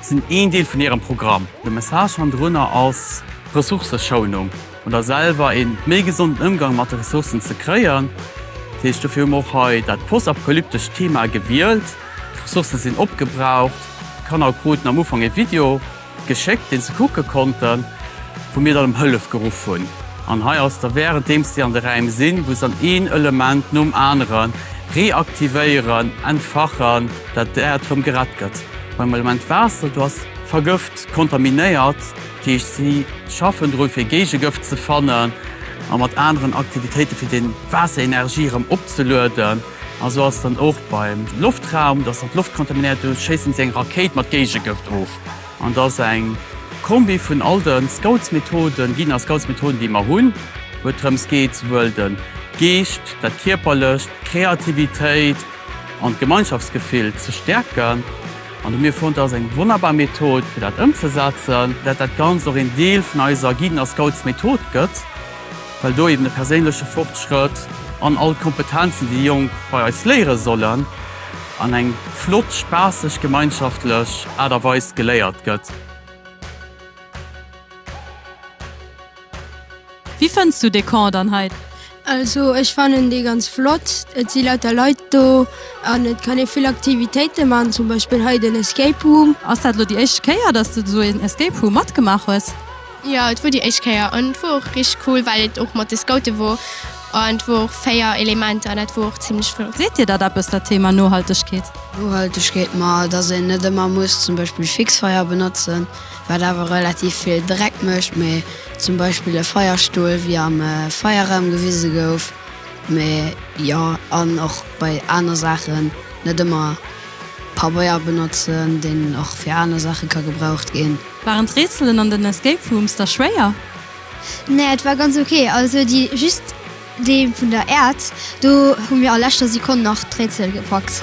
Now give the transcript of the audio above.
sinn een Deel vun hirem Programm. De Message hannendrunner ass Ressourcëschounung oder selwer een méi gesonden Ëmgang mat de Ressourcen ze kréien. Dat heescht, dofir hu mer och hei dat postapokalyptescht Thema gewielt. D'Ressourcen sinn opgebraucht. D'Kanner kruten am Ufank ee Video geschéckt, deen se kucke konnten, wou mir dann ëm Hëllef geruff hunn. An hei ass da währenddem si an de Räim sinn, wou se dann een Element nom anere reaktivéieren, entfachen, dat d'Äerd rëm gerett gëtt. Beim Element Waasser, do ass vergëft, kontaminéiert. Dat heescht, si schaffen dru fir Géigegëft ze fannen a mat aneren Aktivitéite fir déi Waasserenergie erëm opzelueden. A sou ass et dann och beim Loftraum, dass dann d'Loft kontaminéiert, do schéisse si eng Rakéit mat Géigegëft of. An et ass eng Kombi vun all de Scoutsmethoden, ginn a Scoutsmethoden, déi mer hunn, wou et drëms geet, souwuel de Geescht, dat Kierperlecht, d'Kreativitéit, an d'Gemeinschaftsgefill ze stäerken. An hu mir fonnt, dat ass eng wonnerbar Method, fir dat ëmzesetzen. Dat dat Ganzt och een Deel vun eiser Guiden a Scouts Method gëtt, well do eben de perséinleche Fortschrëtt an all d'Kompetenzen, déi Jonk bei eis léiere sollen, an eng flott, spaasseg, gemeinschaftlech Aart a Weis geléiert gëtt. Wéi fënns du dee Camp dann hei? Also ech fannen dee ganz flott. Et si lauter Leit do an et kann ee vill Aktivitéite man, zum Beispill hei den Escape Room. Ass dat elo déi éischte Kéier, dass du esou een Escape Room matgemaach hues? Jo, et wor déi éischt Kéier an et wor och richteg cool, well et och mat de Scoute wor an et wor och 4 Elementer an dat wor och zimlech flott. Seet dir dat eppes, dat Thema Nohaltegkeet? Nohaltegkeet, ma dass een net ëmmer muss zum Beispill Fixfeier benotzen. wat awer relativ vill Dreck mécht, mee zum Beispill e Feierstull, wéi am Feierraum gewise gouf, mee jo, an och bei aner Saachen net ëmmer Pabeier benotzen, deen och fir aner Saache ka gebraucht ginn. Waren d'Rätselen an den Escape Rooms da schwéier? Nee, et war ganz ok. Also déi just dee vun der Äerd, do hu mir a leschter Sekonn nach d'Rätsel gepackt.